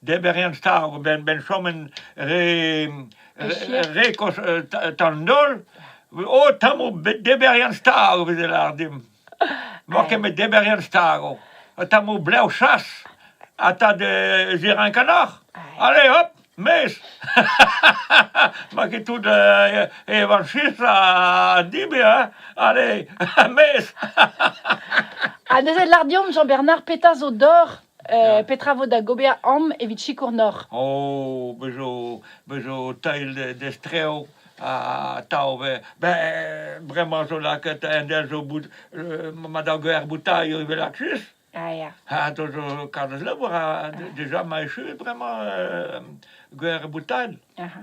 deber en stav ben ben chomen re re kos tan nol o tamo deber en stav vez lar dim mo ket met deber en stav ha tamo blev chas ha ta de ziran kanoc'h allez hop mes ma ket tout evanchis a dibe hein allez mes ha neuze lar deomp Jean-Bernard petra zo d'or Euh, petra vo da gober am evit sikour nor? Oh, be zo, be zo tail d'estrev ha tav be. Ben, bremañ zo lakaet un del zo bout, euh, ma da ger boutailho evel aksus. Ah, ya. Ha to zo karrez labour, ha déjà ma echu bremañ euh, ger boutail. Aha.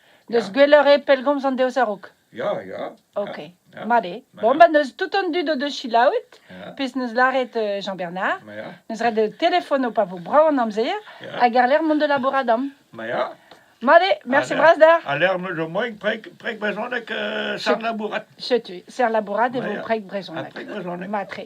N'eus gwelloc'h eo pellgomz an deoz a-raok. Ya, ya. Ok, Ya. mat eo. Ma Bon, ya. ba n'eus tout an dud o deus selaouet, Ya, pezh 'neus lâret euh, Jean-Bernard, ma ya, n'eus ret de telefono pa vo brav an amzer, Ya. hag àr-lerc'h mont da labourat amp. ma ya. Mat eo, mersi Ha- bras d'ec'h. A lec'h m'eus moain preg, preg brezhoneg euh, sar labourat. Setu, ser labourat e Ma vo ya. preg brezhoneg. Ha preg brezhoneg. Matre.